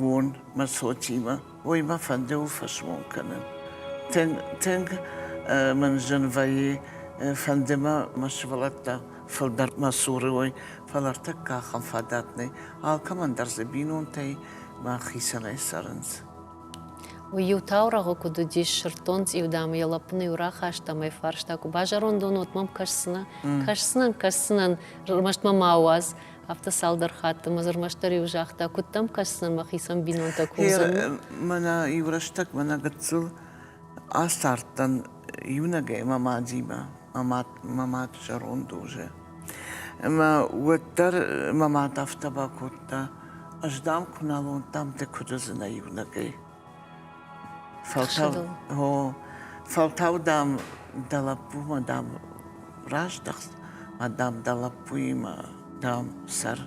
уон мӕ цотимӕ. Уый мӕ фӕнды у фӕсмон кӕнын. Тынг, тынг мын зын вӕййы, фӕнды мӕ мӕ сывӕллӕттӕ фылдӕр мӕ цуры уой, фӕлӕ ӕртӕккӕ ахӕм фадат нӕй. Алкӕмӕн дӕр дзы бинонтӕй мӕхицӕнӕй цӕрынц. Уый-иу таурӕгъы куыд уыдис, сырддон цъиудамы йӕ лӕппыны-иу рахаста ӕмӕ йӕ фарста, куы базӕрондон, уӕд мӕм кӕсдзынӕ? Кӕсдзынӕн, кӕсдзынӕн, ӕрмӕст мӕ ма уадз. Афтӕ цалдӕр хатты мӕ зӕрмӕстдӕр иу загъта, куыд дӕм кӕсдзынӕн мӕхицӕн бинонтӕ курдзӕн? Гъер мӕнӕ иурӕстӕг мӕнӕ гыццыл ацардтӕн иунӕгӕй мӕ мадимӕ, мӕ мад зӕронд уызы. Ӕмӕ уӕддӕр мӕ мад афтӕ бакодта, ӕз дам куы нал уыдтӕн, ды куыд уыдзынӕ иунӕгӕй? Фӕлтау, дам, дӕ лӕппумӕ, дам, раздӕхт, ӕмӕ, дам, дӕ лӕппуимӕ, дам, сӕр.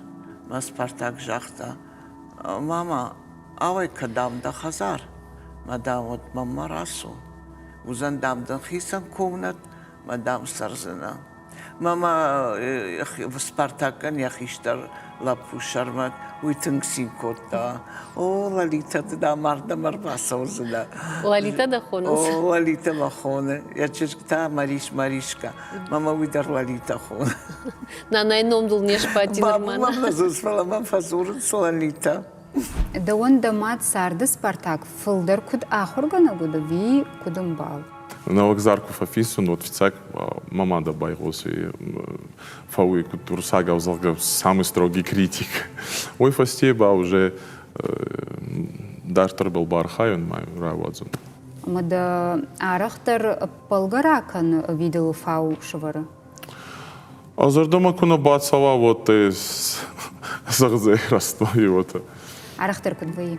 Мӕ Спартак загъта: «Мама, ауӕй-ка, дам, дӕ хӕдзар, ӕмӕ, дам, уӕд мӕнмӕ рацу. Уыдзӕн, дам, дын хицӕн комнӕт, ӕмӕ, дам, цӕрдзынӕ». Мамӕ Спартакӕн йӕ хистӕр лӕппу Сӕрмӕт уый тынг цин кодта. О, Лалитӕ, ты дӕ мардӕм ӕрбацӕудзынӕ. Лалитӕ дӕ хонынц? О, Лалитӕ мӕ хоны. Йӕ чызг та Марис Маришка. Мамӕ уый дӕр Лалитӕ хоны. Нанайы ном дыл не сбадти нырма. Бабу мӕм фӕдзурынц, фӕлӕ мӕм фӕдзурынц Лалитӕ. Дӕуӕн дӕ мад царды Спартак фылдӕр куыд ахуыргӕнӕг уыд ӕви куыд ӕмбал? Нӕлгдзар куы фӕфиссын, уӕд фыццаг мӕ мадӕ байгъосы фӕуый, куыд урсагау, зӕгъгӕ, самый строгий критик. Уой фӕсте ба уже дарддӕрбӕл бархайун ма рауадзун. Ӕмӕ дӕ арӕхдӕр ӕппӕлгӕ ракӕны, ӕви дыл фау сывӕры? А зӕрдӕмӕ куы нӕ бацӕуа, уӕд дӕ зӕгъдзӕй растой, уотӕ. Арӕхдӕр куыд вӕййы?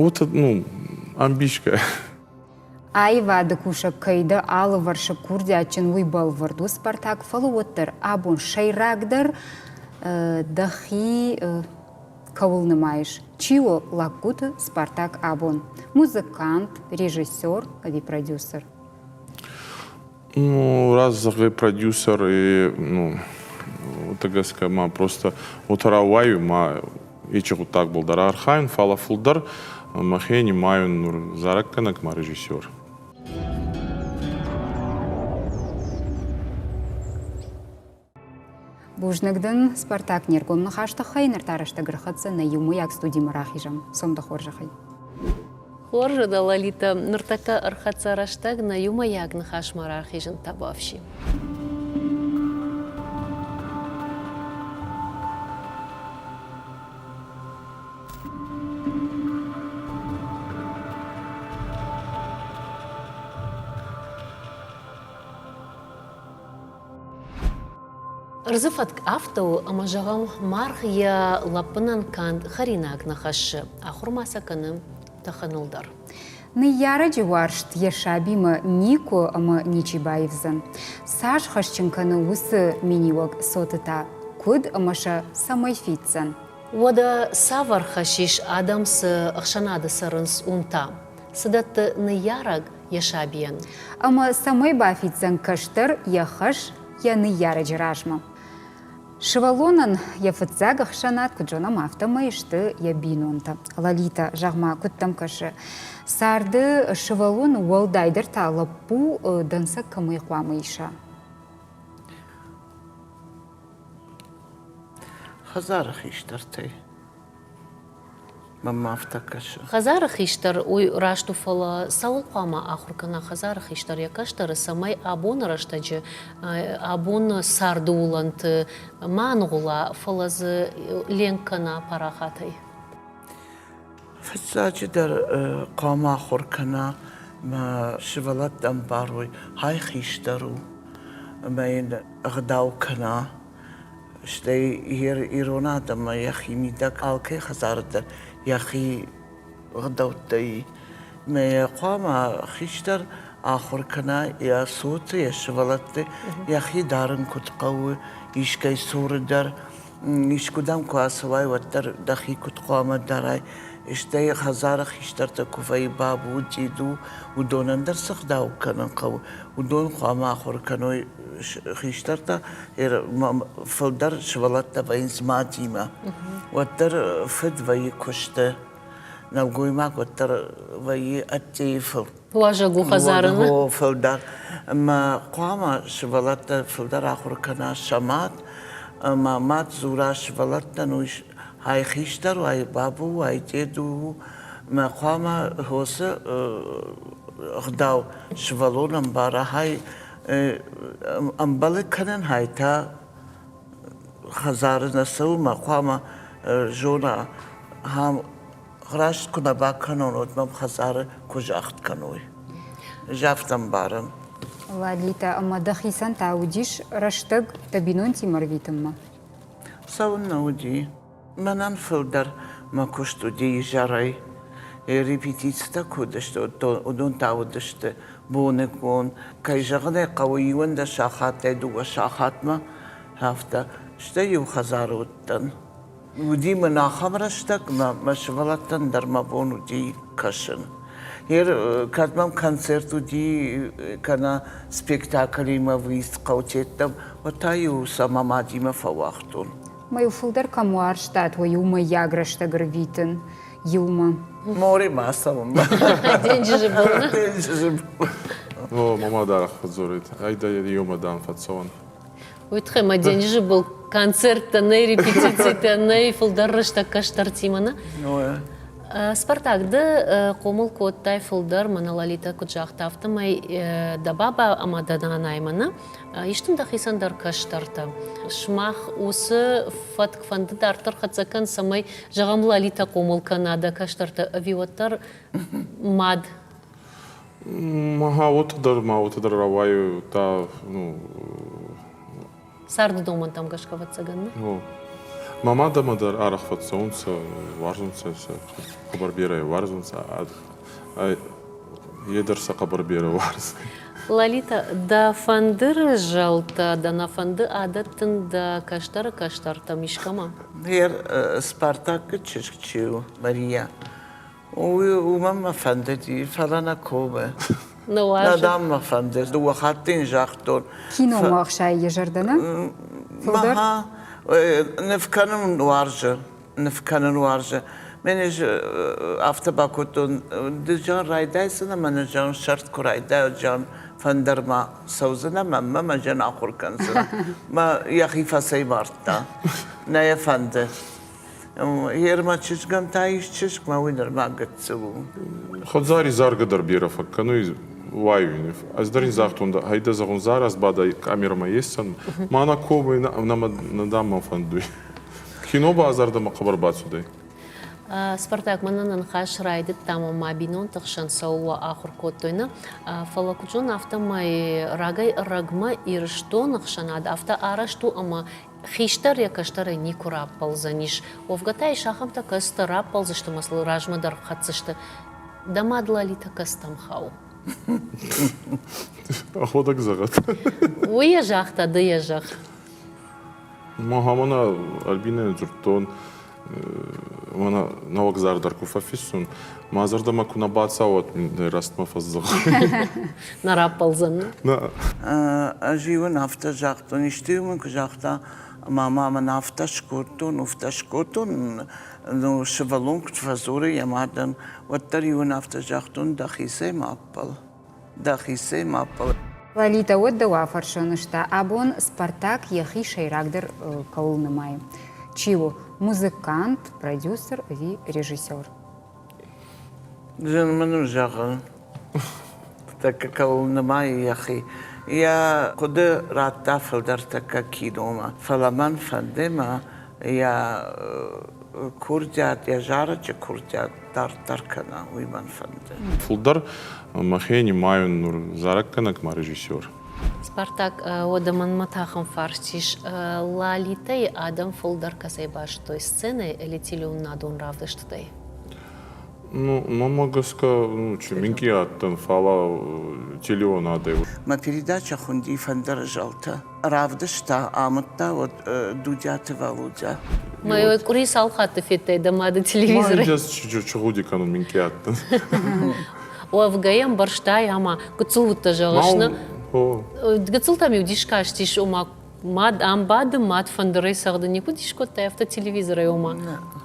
Уотӕ, ну, ӕмбисгӕ. Аивады кусӕг кӕй дӕ алывӕрсы курдиатджын, уый бӕлвырд у Спартак, фӕлӕ уӕддӕр абон сӕйрагдӕр дӕхи кӕуыл нымайыс? Чи у лӕггуыты Спартак абон? Музыкант, режиссер ӕви продюсер? Ну, раз зӕгъы продюсер и, ну, тыгӕс ма просто отарауаю ма ичи гъуддаг болдара архайын фала фулдӕр махе нимайун нур зараггӕнӕг ма режиссер. Бузныг дын, Спартак, не ргом ныхас тыххӕй ныр та рӕстӕг ӕрхӕццӕ нӕ иумӕйаг студимӕ рахизӕм сомды хорзӕхӕй. Хорзӕ дӕ, Лолита, ныртӕккӕ ӕрхӕццӕ рӕстӕг нӕ иумӕйаг ныхасмӕ рахизын табуафси. Ӕрдзы фӕтк афтӕ у, ӕмӕ зӕгъӕм, маргъ йӕ лӕппынӕн канд хӕринаг нӕ хӕссы, ахуыр ма сӕ кӕны тӕхыныл дӕр. Ныййарӕджы уарзт йӕ сабимӕ никуы ӕмӕ ничи баивдзӕн. Цас хӕсджын кӕны уыцы миниуӕг цоты та, куыд ӕмӕ сӕ цӕмӕй фиддзӕн? Уӕдӕ цавӕр хӕс ис адӕм, цы ӕхсӕнады цӕрынц, уым та? Цы дӕтты ныййарӕг, йӕ сабийӕн ӕмӕ цӕмӕй бафиддзӕн кӕстӕр йӕ хӕс йӕ ныййарӕджы размӕ. Сывӕллонӕн йӕ фыццаг ӕхсӕнад куыд зонӕм, афтӕмӕй сты йӕ бинонтӕ. Лолита, зӕгъ-ма, куыд дӕм кӕсы, царды сывӕллон уӕлдайдӕр та лӕппу дӕнцӕг кӕмӕй хъуамӕ иса? Хӕдзары хистӕртӕй Мамӕ афтӕ кӕсы. Хӕдзары хистӕр уый раст у, фӕлӕ цӕуыл хъуамӕ ахуыр кӕна хӕдзары хистӕр йӕ кӕстӕры, цӕмӕй абоны рӕстӕджы абон царды уылӕнты ма аныгъуыла, фӕлӕ дзы ленк кӕна парахатӕй? Фыццаджыдӕр хъуамӕ ахуыр кӕна, мӕ сывӕллӕттӕ ӕмбарой, хай хистӕр у ӕмӕ йын ӕгъдау кӕна. Стӕй ирон адӕммӕ йӕхимидӕг алкӕй хӕдзары дӕр йӕхи гъдӕуттӕй. Мӕ йӕ хъуамӕ хистӕр ахуыр кӕна йӕ цоты, йӕ сывӕллӕтты йӕхи дарын куыд хъӕуы, искӕй цуры дӕр, искуыдӕм куы ацӕуай, уӕддӕр дӕхи куыд хъуамӕ дарай. Стӕй хӕдзары хистӕртӕ куы вӕййы бабу, диду, уыдонӕн дӕр цы гъдау кӕнын хъӕуы, уыдон хъуамӕ ахуыр кӕной хистӕртӕ фылдӕр сывӕллӕттӕ вӕййынц мадимӕ. Уӕддӕр фыд вӕййы куысты, нӕлгоймаг уӕддӕр вӕййы ӕддейы фыл. Лазӕгу хӕдзарымӕ. Фылдӕр. Ӕмӕ хъуамӕ сывӕллӕттӕ фылдӕр ахуыр кӕна сӕ мад. Ӕмӕ мад дзура сывӕллӕттӕн, уый ай хистӕр у, ай бабу, ай дед у. Мӕ хъуамӕ хосы ӕгъдау сывӕллон ӕмбара, ай ӕмбӕлы кӕнын хайтӕ хӕдзары нӕ цӕуылмӕ хъуамӕ зона ам раст куы нӕ бакӕнон уӕд мӕм хӕдзары куы загъд кӕной афтӕ мбарӕм ладлитӕ ӕмӕ дӕхицӕн та уыдис рӕстӕг дӕ бинонтимӕ рвитынмӕ цӕуыннӕ уыди Мӕнӕн фылдӕр мӕ куыст уыди изӕрӕй. Репетицитӕ куы уыдысты, уыдон та уыдысты боныгон. Кӕй зӕгъын ӕй хъӕуы, иуӕндӕс сахаттӕй дыууӕ сахатмӕ, афтӕ. Стӕй иу хӕдзары уыдтӕн. Уыди мын ахӕм рӕстӕг, мӕ сывӕллӕттӕн дӕр мӕ бон уыди кӕсын. Кӕд мӕм концерт уыди, кӕнӕ спектаклимӕ выезд хъӕу тедтам, уӕд та-иу сӕ мӕ мадимӕ фӕуагътон. Ма-иу фылдӕр кӕм уарзтат, уый у мыййаг рӕстӕг ӕрвитын иумӕ. Море ма цӕуын. Денджызы был. Денджызы был. О, мама дарах фӕдзорит. Айда еумӕ дам фӕццӕуӕн. Уитхе, ма денджызы был концерттӕ, нӕй репетицитӕ, нӕй фылдӕр рӕстӕг кӕстӕртимӕ, нӕ? Спартак, ды хъомыл кодтай фылдӕр, мӕнӕ Лолитӕ куыд загъта, афтӕмӕй дӕ баба ӕмӕ дӕ нанаймӕ, нӕ? Истын дӕхицӕн дӕр кӕстӕртӕ. Сымах уыцы фӕтк-фӕнды дарддӕр хӕццӕ кӕн, цӕмӕй, зӕгъӕм, Лалитӕ хъомыл кӕна дӕ кӕстӕрты ӕви уӕддӕр мад. Ма уыты дӕр, ма уыты дӕр рауайы та, ну. Царды домӕнтӕм гӕсгӕ ӕвӕццӕгӕн нӕ? Ну. Мӕ мадӕмӕ дӕр арӕх фӕцӕуынц, уарзынц сӕ, сӕ хъӕбӕр бирӕ уарзынц Е дӕр сӕ хъӕбӕр берӕ уарзы. Лалита, дӕ фӕндыры зӕлтӕ, дӕ нӕ фӕнды адӕттын дӕ кӕстӕры кӕстӕртӕм искӕмӕ? Гъер Спартакы чызг чи у, Мария, уымӕн мӕ фӕндыди, фӕлӕ нӕ комы. Нӕ уарзы? Нӕ, дам, мӕ фӕнды. Дыууӕ хатты йын загътон. Киномагъзӕйы йӕ зӕрдӕ нӕ? Мӕ, ныв кӕнын уарзы. ныв кӕнын уарзы. Мен афтӕ бакодтон, ды зӕн райдайдзынӕ, мӕнӕ зӕн сӕрд куы райдайа, зӕн фӕндырмӕ цӕудзынӕ, мӕ мӕ зӕн ахуыр кӕндзынӕ. Мӕ йӕхи фӕцӕймардта. Нӕ йӕ фӕнды. Гъермӕ чызгӕн та ис чызг, мӕ уый нырма гыццыл у. Худзари заргӕ дӕр бирӕ фӕккӕнуй уайуй нив. Ӕз дӕр ин загътон, дӕ айдӕ зӕгъун, Зараз бадӕ камерӕмӕ есдзӕн, мӕнӕ ковӕй нӕмӕ дӕм мӕ фӕндуй. Кино ба зӕрдӕмӕ хъӕбӕр бацудӕй. Спартак мӕнӕн ныхас райдыдтам ӕмӕ бинонты хсӕн цӕуыл ахуыр кодтой нӕ, фӕлӕ куыдзон афтӕмӕй рагӕй-ӕрӕгмӕ Ирыстоны хсӕнад афтӕ арӕзт у ӕмӕ хистӕр йӕ кӕстӕрӕй никуы раппӕлдзӕнис. Уӕвгӕ та ис ахӕмтӕ, кӕцытӕ раппӕлдзысты мӕ сыл размӕ дӕр хӕцдзысты. Дӕ мад Лалитӕ кӕцытӕм хауы? Ӕхуӕдӕг зӕгъӕд. Уый йӕ загъта, ды йӕ зӕгъ. Мӕхӕмӕна Альбинӕйӕн дзырдтон, мӕнӕ нӕуӕгдзар дӕр куы фӕфиссон, мӕ зӕрдӕмӕ куы нӕ бацауат, нӕ рӕстмӕ фӕдзӕгъӕл. Нӕ раппӕлдзӕни? Нӕ. Ӕз-иу ын афтӕ загътон, исты-иу мын куы загъта, ӕмӕ ма мӕн афтӕ скодтон, уфтӕ скодтон, ну, сывӕллон куыд фӕдзуры йӕ мадӕн, уӕддӕр-иу ын афтӕ загътон, дӕхицӕй ма аппӕл. дӕхицӕй ма ппӕлай. Лолитӕ уӕд дӕу афӕрсон сты, абон Спартак йӕхи сӕйрагдӕр кӕуыл нымайы. Чи у? Музыкант, продюсер ӕви режиссер? Зын мын у зӕгъын. Тӕккӕ кӕуыл нымайы йӕхи. Йӕ хъуыды радта фылдӕр тӕккӕ киномӕ. Фӕлӕ мӕн фӕнды мӕ йӕ курдиат, йӕ зарӕджы курдиат дарддӕр кӕна, уый мӕн фӕнды. Фылдӕр мӕхе нимайон нур зарӕггӕнӕг-ма режиссер. Спартак, уӕдӕ мӕнмӕ тӕхын фарст ис, Лалитӕйы адӕм фылдӕр кӕцӕй бастой сценӕйы элитилеоннадон равдыстытӕй? Ну, мӕмӕ гӕсгӕ, ну, чи минкъий адтӕн, фала телеонадӕй. Мӕ передачӕ хунди фӕндӕр зӕлтӕ. равдыста, амыдта уӕд Дудиаты Валодя. Мӕ вот къуыри цал хатты федтай дӕ мады телевизоры? Чугъуди кӕнун мин кӕттын. Уӕвгӕйӕ мбӕрстай ӕмӕ гыццыл уыдтӕ зӕгъыс, нӕ? Гыццылтӕм иу дис кастис, ома мад ам бады, мад фӕндырӕй цӕгъды, никуыд ис кодтай афтӕ телевизорӕй, ома?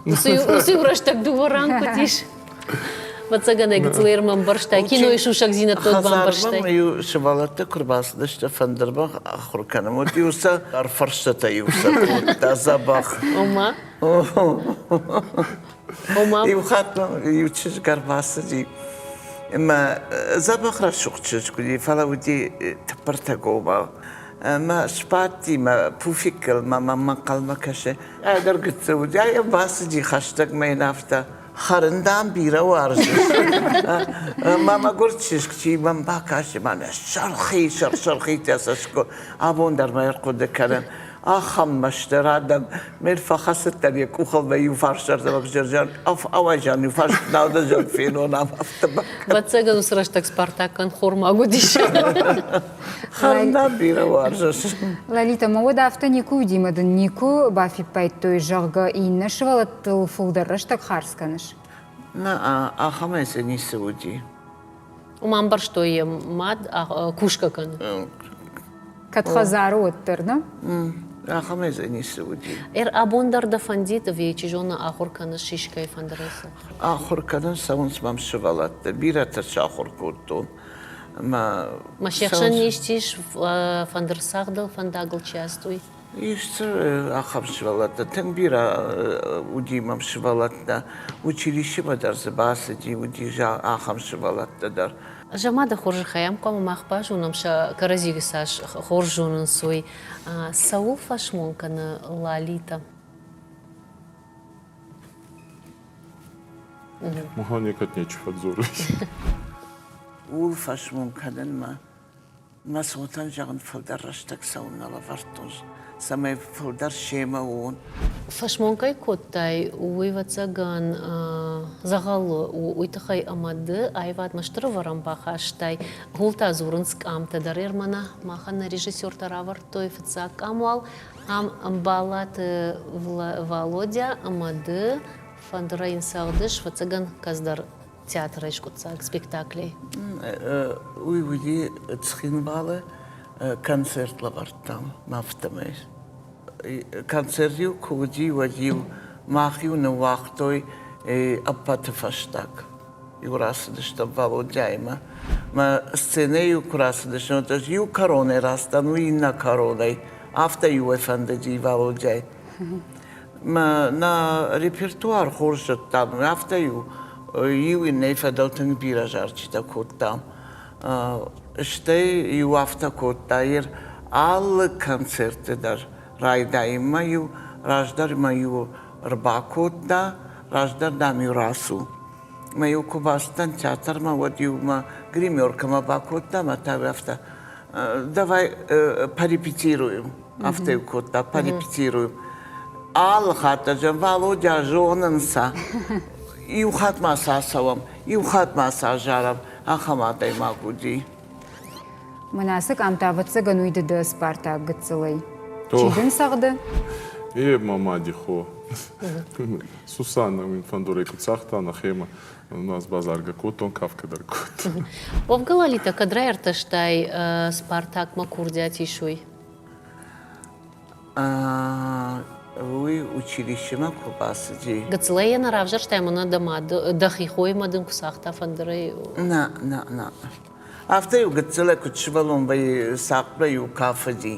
Уыцы-иу рӕстӕг дыууӕ ран куыд ис? Мацагӕнӕ гыцлер мӕм бырстай, кинойы сусӕгдзинӕдтыл бамбӕрстай. Иу сывӕллӕттӕ куы рбацыдысты фӕндырбӕх ахуыр кӕнын, уыд иу сӕ фӕрстытӕ иу сӕ кодта дзӕбӕх. Ома? Ома? Иу хатт иу чызг ӕрбацыди ӕмӕ дзӕбӕх рӕсугъд чызг уыди, фӕлӕ уыди тыппыртӕ гобал. Ӕмӕ сбадти мӕ пуфиккыл мӕ маммӕ хъӕлмӕ кӕсы. Ӕдӕр гыццыл уыди, ӕй бацыди хӕстӕгмӕ йын афтӕ. Хӕрын, дам, бирӕ уарзыс. Мӕ мӕгуыр чызг, чи мӕм бакӕсы, мӕнӕ сӕрхи, сӕрхитӕ сӕско, абон дӕр мӕ ӕрхъуыды кӕнын. Ахӕм мӕстӕ радӕг, мер фӕхӕцыдтӕн йӕ къухылмӕ иуфарсӕрдӕмӕг зӕрзӕн, ауайзан иуфарс наудӕзӕг фенонам автомат. Бӕццӕгӕн уыцы рӕстӕг Спартаккӕн хормаг уыдис. Хӕрна бирӕ уарзыс. Лалита, ма уӕд афтӕ никуы уыди мӕ дын никуы бафиппайдтой, зӕгъгӕ, иннӕ сывӕллӕт Дыл фылдӕр рӕстӕг хардз кӕныс? Нӕ, ахӕмӕй дзы ницы уыди. Уым амбӕрстой йӕ мад кусгӕ кӕны. Кӕд хӕдзары уӕддӕр, нӕ? Ахӕмӕй дзы ницы уыди. Ӕрӕбон дӕр дӕ фӕндид, ӕви чи зоны ахуыр кӕныс сисгӕйы фӕндырӕй? Ахуыр кӕнын цӕуынц мӕм сывӕллӕттӕ. Бирӕтӕ сахуыр кодтон мӕ. Ма се хсӕн не стис, фӕндырсагъдыл фӕндагыл чи ацыд, уый? Исты ахӕм сывӕллӕттӕ, тынг бирӕ уыди мӕм сывӕллӕттӕ, училищемӕ дӕр дзы бацыди, уыди ахӕм сывӕллӕттӕ дӕр. Заманы хорзӕхӕй ӕм хъуамӕ мах базонӕм, сӕ кӕрӕдзиты цас хорз зонынц, уый, цӕуыл фӕсмон кӕны Лалитӕ. Мӕхӕ некӕд нечи фӕдзорыс. Ууыл фӕсмон кӕнынмӕ Мӕ цотӕн, зӕгъын, фылдӕр рӕстӕг цӕуын нӕ лӕвӕрдтон, цӕмӕй фылдӕр семӕ уон. Фӕсмон кӕй кодтай, уый, ӕвӕццӕгӕн, дзӕгъӕлы у, уый тыххӕй ӕмӕ ды аивадмӕ стыр ӕвӕрӕн бахастай. Гъултӕ дзурынц къамтӕ дӕр Ермана. Махӕн нӕ режиссертӕ равӕрдтой фыццаг къам уал. Ам Баллаты Володя ӕмӕ ды фӕндырӕй нцӕгъдыс, ӕвӕццӕгӕн, кӕддӕр театрӕй скъуыддзаг спектаклей. Уый уыди Цхинвалы концерт лӕвӕрдтам афтӕмӕй. Концерт-иу куы уыди, уӕд-иу мах-иу ныууагътой ӕппӕты фӕстаг. Иу рацыдыстӕм Валодяимӕ. Мӕ сценӕ-иу куы рацыдыстӕм, ӕз иу коронӕ растӕн, уый иннӕ коронӕй. Афтӕ-иу ӕй фӕндыди Валодяй. нӕ репертуар хорз зыдтам, афтӕ-иу иу иннӕйы фӕдыл тынг бирӕ зарджытӕ кодтам. Стӕй-иу афтӕ кодта ир алы концертты дӕр райдайынмӕ-иу раздӕр мӕ-иу ӕрбакодта, раздӕр, дам-иу рацу. Мӕ-иу куы бацыдтӕн театрмӕ, уӕд-иу мӕ гримеркӕмӕ бакодта, мӕ та афтӕ давай порепетируем. Афтӕ-иу кодта, порепетируем. Алы хатт ӕрдзӕн, Володя, зонын сӕ. Иу хатт ма сӕ ацӕуӕм, иу хатт ма сӕ азарӕм. Ахӕм адӕймаг уыди. Мӕнӕ къамтӕ ӕвӕццӕгӕн уый ды дӕ спартаг гыццылӕй. Чи дын цӕгъды? Е ма мади хо. Сусана мин фӕндорӕй куд цагъта нӕхемӕ, нас базаргӕ кодтон, кафгӕ дӕр кодтон. Хъовгӕ Лалитӕ кӕд райертӕстай Спартакмӕ курдиат исуй? Уый училищемӕ куы бацыди. Гыццылӕй йӕ нӕ равзӕрстай мӕнӕ дӕ мады, дӕхи хойымӕ дын куы цагъта фӕндырӕй. Нӕ, нӕ, нӕ. Афтӕ-иу гыццылӕй куыд сывӕллонбӕй сахъбӕй-иу кафыди,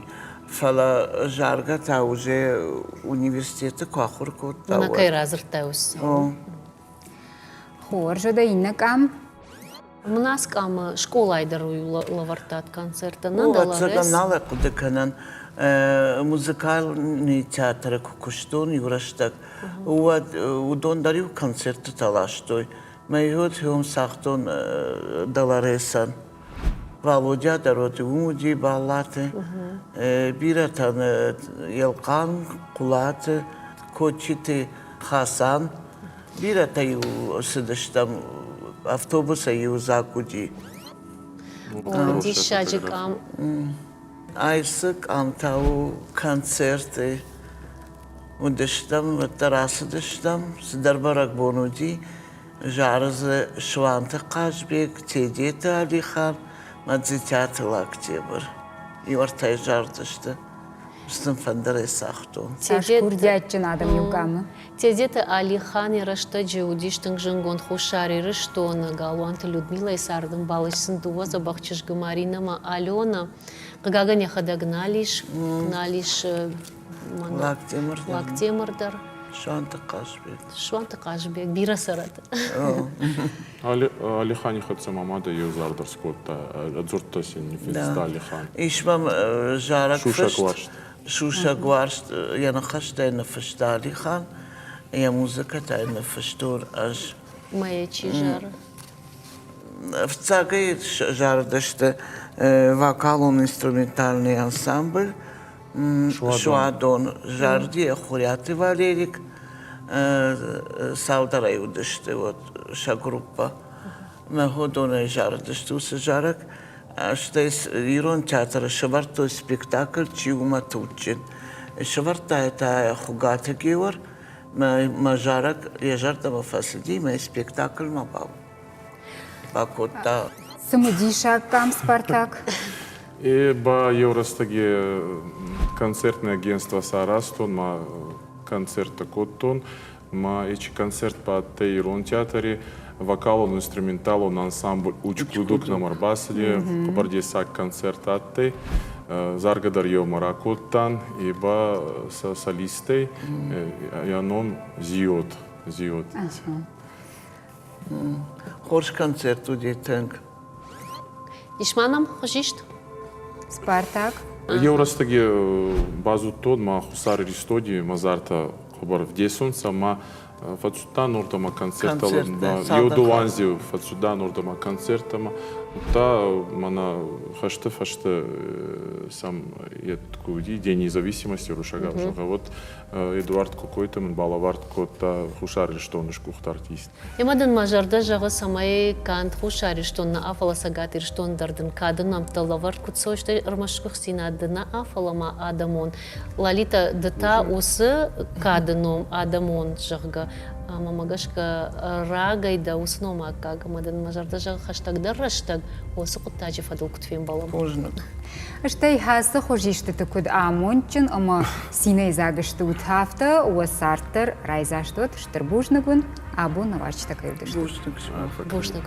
фӕлӕ заргӕ та уже университеты куы ахуыр кодта. На кӕй радзырдтай ус? О. Хорз, дӕ иннӕ къам? Мунаскъамы скъолайы дӕр лӕвӕрдтат концерттӕ. Ӕцӕгӕн нал хъуыды кӕнӕн. Музыкальный театры куы куыстон иу рӕстӕг, уӕд уыдон дӕр-иу концертытӕ ластой. Мӕй уыд цагътон Долоресӕн. Валодя дӕр уыд, уым уыди баллӕты. Бирӕтӕн Елхъан, Хъулаты, Кочиты Хасан Бирӕтӕ-иу цыдыстӕм, автобусӕй-иу дзаг уыди. Диссаджы къам. Ай цы къамтӕ у, концерты. Уыдыстӕм, уӕддӕр ацыдыстӕм, цыдӕр бӕрӕгбон уыди. Зары дзы Суанты Хъазбег, Тедеты Алихан, Мадзитӕты Лактебр. Иу ӕртӕйы зардзысты. Сын фӕндыр ацагътон. Курдиатджын адӕм иу къамы. Тедеты Алихани рӕстӕджы уыдис тынг зынгонд Хуссар Ирыстоны Галуанты Людмилӕйы цардӕмбал, ис сын дыууӕ дзӕбӕх чызджы Маринӕ ӕмӕ Аленӕ. Хъыгагӕн, йӕхӕдӕг нал ис, нал ис Лӕгтемыр, Лӕгтемыр дӕр. Суанты Хъазбег. Суанты Хъазбег, бирӕ цӕрӕт. Алихани хӕццӕ ма мадӕ еу зард ӕрскодта, ӕдзурдтӕ син ниффинста Алихан. Ис мӕм зарӕг фыст. Сусӕг уарзт йӕ ныхӕстӕй ныффыста Алихан, йӕ музыкӕтӕй ныффыстон ӕз. Мӕйӕ чи зары? Ӕфцӕгӕй зарыдысты вокалон-инструментальный ансамбль Суадон. Зарыди йӕ Хурӕты Валерик. Цалдӕрӕй уыдысты вот сӕ группа. Мӕ ходонӕй зарыдысты уыцы зарӕг. Стӕй ирон театры сӕвӕрдтой спектакль Чи у мӕ туджджын? Сӕвӕрдта йӕ та Хуыгаты Геор. Мӕ зарӕг йӕ зӕрдӕмӕ фӕцыди, мӕ спектакльмӕ бакодта. Цымыдисаг къам Спартак? И ба еу рӕстӕги концертнӕ агентствӕ саразтон, ма концерттӕ кодтон. ма ечи концерт ба адтӕй ирон театри вокалон-инструменталон ансамбль Уч-Клудок нӕм ӕрбацыди, хъӕбӕрдесаг концерт адтӕй. Заргӕ дӕр еумӕ ракодтан, е ба сӕ солисттӕй, ӕ ном Зиот. Зиот. Хорз концерт уыди тынг. Ис ма нӕм хуызист? Спартак. Еу рӕстӕги базудтон ма Хуссар Иристони мадзартӕ хъӕбӕр вдесунцӕ ма фӕццудта нурдӕмӕ концерттӕ. Еудуанздзеу фӕццуда нурдӕмӕ концерттӕмӕ. Удта мӕнӕ хӕсты фӕсте сӕм ку уди День независимости русаг гъӕуд Эдуард Кокойты мын балӕвӕрд кодта Хуссар Ирыстоны сгуыхт артист. Ӕмӕ дын мӕ зӕрдӕ зӕгъы, цӕмӕй канд Хуссар Ирыстон нӕ, фӕлӕ Цӕгат Ирыстон дӕр дын кады нӕмттӕ лӕвӕрд куыд суой, стӕй ӕрмӕст сгуыхтдзинад ды нӕ, фӕлӕ ма адӕмон Лолита ды та уыцы кады ном адӕмон, зӕгъгӕ. Ӕмӕ мӕ гӕсгӕ рагӕй дӕ уыцы ном аккаг, ӕмӕ дын мӕ зӕрдӕ зӕгъы хӕстӕгдӕр рӕстӕг уыцы хъуыддаджы фӕдыл куыд фембӕлӕм. Бузныг. Стӕй ацы хуызистыты куыд амондджын ӕмӕ цинӕйдзаг стут, афтӕ уӕ цард дӕр райдзаст уӕд стыр бузныг уын. Абоны уазджытӕ кӕй уыдысты. Бузныг сымах фӕкӕй. Бузныг.